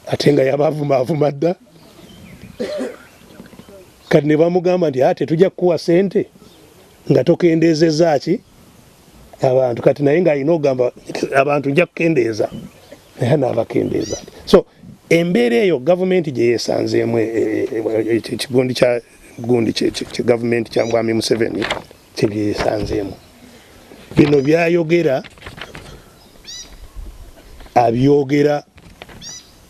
ate nga yabavuma avuma dda kati ne bamugamba nti ate tujja kukuwa sente nga tokendeezezza ki abantu kati naye nga alina ogamba abantu nja kukendeeza naye anaabakendeeza so embeera eyo gavumenti gye yeesanzeemu e, e, e, ekigundi kya gundi kye gavumenti kya mwami museveni kyebyesanzeemu bino byayogera abyogera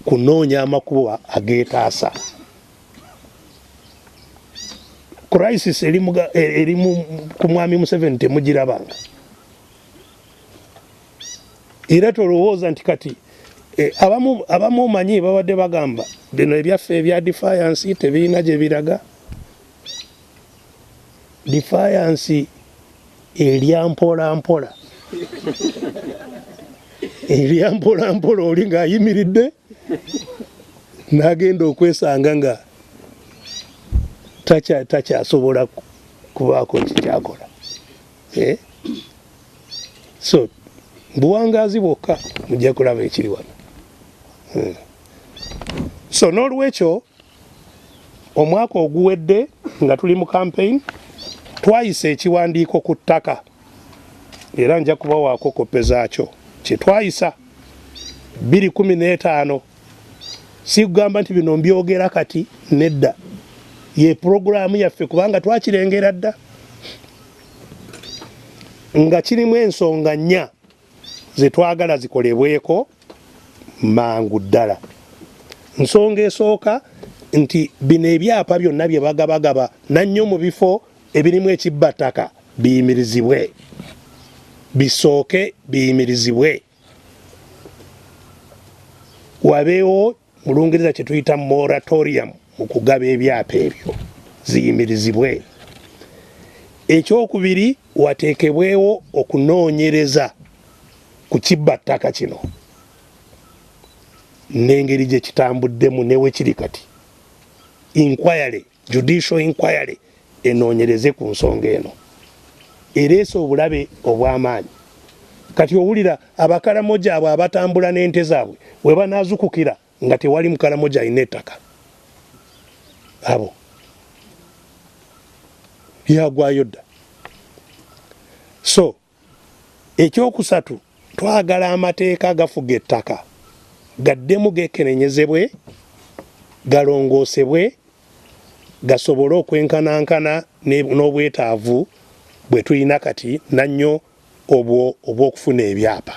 kunoonya amakubo agetaasa crisis eri e, ku mwami museveni temugirabanga era tolowooza nti kati e, abamu omanyi babadde bagamba bino ebyaffe ebya defiance tebirina gyebiraga defiance elya mpola mpola elya mpola mpola oli ng'ayimiridde n'agenda okwesanga nga takyasobola kubaako kikyakola eh? so buwangaazi bwokka mujja kulaba ekiri wano hmm. so n'olwekyo Omwaka oguwedde nga tuli mu campaign twayisa ekiwandiiko ku ttaka era nja kubawaako koppe zaakyo kye twayisa 215 sikugamba nti bino mbyogera kati nedda ye pulogulaamu yaffe kubanga twakirengera dda nga kirimu ensonga nnya zetwagala zikolebweko mangu ddala. Nsonga esooka nti bino ebyapa byonna bye bagabagaba nannyo mu bifo ebirimu ekibbattaka biyimirizibwe, bisooke biyimirizibwe, wabeewo mu lungereza kye tuyita moratorium mu kugaba ebyapa ebyo ziyimirizibwe ekyokubiri wateekebwewo okunoonyereza ku kibba ttaka kino n'engeri gye kitambuddemu newekiri kati inquiry judicial inquiry enoonyereze ku nsonga eno ereese obulabe obw'amaanyi kati owulira abakaramoja abo abatambula n'ente zaabwe webanaazukukira nga tewali mukaramoja alina ettaka abo byagwayo dda so Ekyokusatu, twagala amateeka agafuga ettaka gaddemu gekenenyezebwe, galongoosebwe gasobole okwenkanankana n'obwetaavu bwetulina kati nannyo obwo obw'okufuna ebyapa.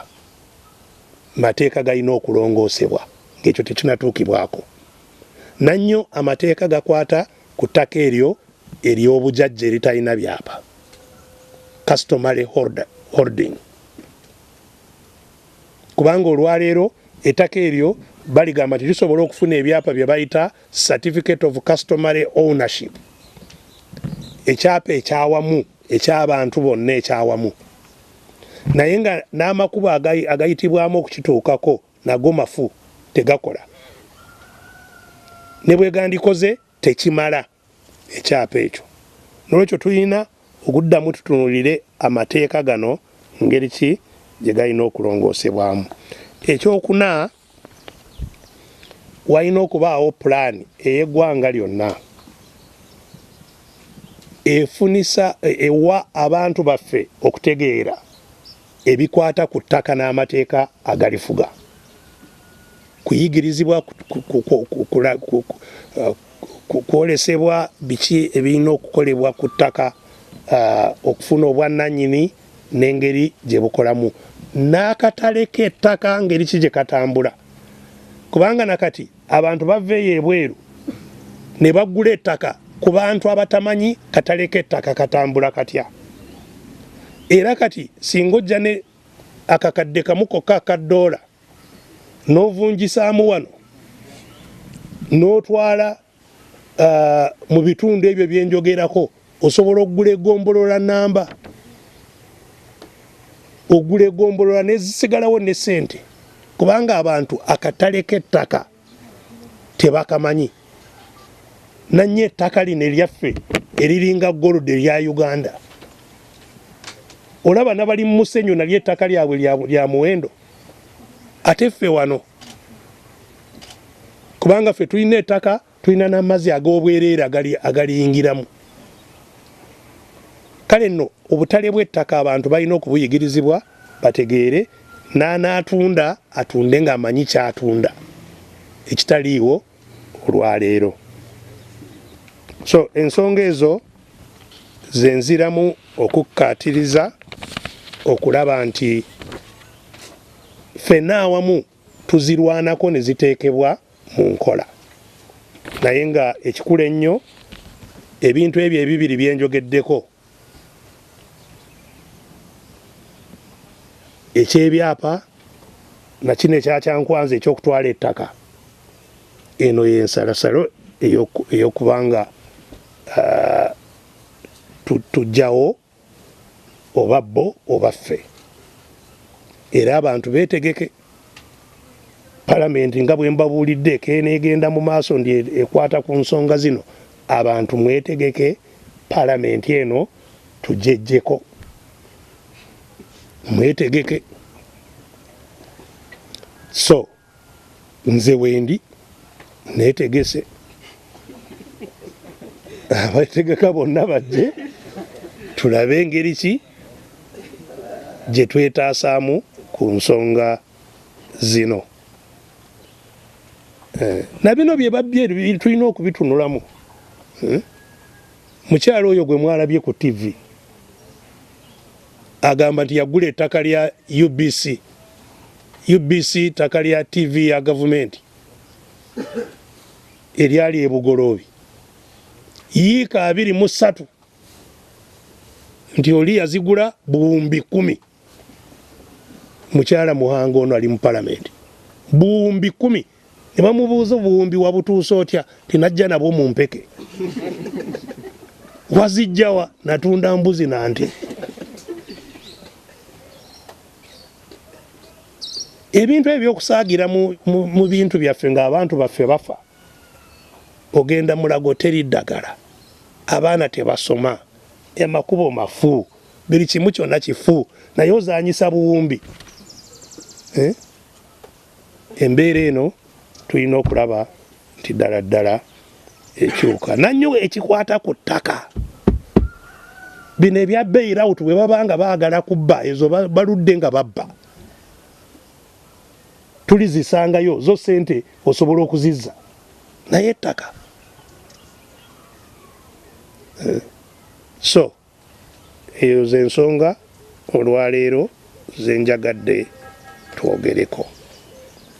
Mateeka galina okulongoosebwa ng'ekyo tekinatuukibwako. Nannyo amateeka gakwata ku ttaka eryo ery'obujajja eritalina byapa customary holding kubanga olwaleero ettaka eryo baligamba nti lisobola okufuna ebyapa bye bayita certificate of customary ownership ekyapa ekyawamu ekyabantu bonna ekyawamu naye nga n'amakubo agayitibwamu okukituukako nago mafu tegakola ne bwegandikoze tekimala ekyapa ekyo nolwekyo tulina okuddamu tutunulire amateeka gano ngeri ki gye galina okulongoosebwamu ekyokuna walina okubaawo pulaani ey'eggwanga lyonna efunisa ewa abantu baffe okutegeera ebikwata ku ttaka n'amateeka agalifuga kuyigirizibwa kwolesebwa biki ebirina okukolebwa ku ttaka uh, okufuna obwannanyini n'engeri gye bukolamu n'akatale k'ettaka ngeri ki gye katambula kubanga nakati Abantu baveeyo ebweru ne bagula ettaka ku bantu abatamanyi katale k'ettaka katambula katya. Era kati singa ojja ne akakadde kamu kokka aka ddoola n'ovunjisaamu wano n'otwala uh, mu bitundu ebyo bye njogerako osobola okugula egombolola namba ogula egombolola nezisigalawo ne sente kubanga abantu akatale k'ettaka tebakamanyi nanye ettaka lino eryaffe eriringa gold erya uganda olaba nabali mu musenyu nalyo ettaka lyabwe lya muwendo ate ffe wano kubanga ffe tulina ettaka tulina n'amazzi ag'obwereere agaliyingiramu kale nno obutale bw'ettaka abantu balina okubuyigirizibwa bategeere n'anaatunda atunde ng'amanyi kyatunda ekitaliiwo olwaleero so ensonga ezo zenziramu okukkaatiriza okulaba nti ffenna awamu tuzirwanako ne ziteekebwa mu nkola naye nga ekikulu ennyo ebintu ebyo ebibiri bye njogeddeko ekyebyapa nakino ekyakyankwanza ekyokutwala ettaka eno yensalasalo eyokubanga uh, tujjawo tu oba bo oba ffe era abantu betegeke palamenti nga bwembabuulidde ekeneegenda mu maaso ndi ekwata ku nsonga zino abantu mwetegeke palamenti eno tujejjeko mwetegeke so nze wendi netegese abategeka bonna bajje tulabe engeri ki gye twetaasaamu ku nsonga zino eh, na bino bye babbye tulina okubitunulamu eh, mukyalo oyo gwe mwalabye ku tivi Agamba nti yagula ettaka lya UBC, UBC ttaka lya TV ya gavumenti eryali e Bugoloobi yiika abiri mu ssatu nti oli yazigula buwumbi kumi. Mukyala Muhanga ono ali mu palamenti buwumbi kumi. ne bamubuuza obuwumbi wabutuusa otya tinajja nabwo mu mpeke wazijjawa natunda mbuzi na nte ebintu ebyo byokusaagira mu bintu byaffe ng'abantu baffe bafa ogenda mulago teri ddagala abaana tebasoma emakubo mafu buli kimu kyonna kifu naye ozanyisa buwumbi eh? embeera eno tulina okulaba nti ddala ddala ekyuka nanyo ekikwata ku ttaka bino ebya bailout bwe baba nga baagala kubba ezo baludde nga babba tulizisangayo zo sente osobola okuzizza naye ettaka eh, so Eyo ze nsonga olwaleero ze njagadde twogereko.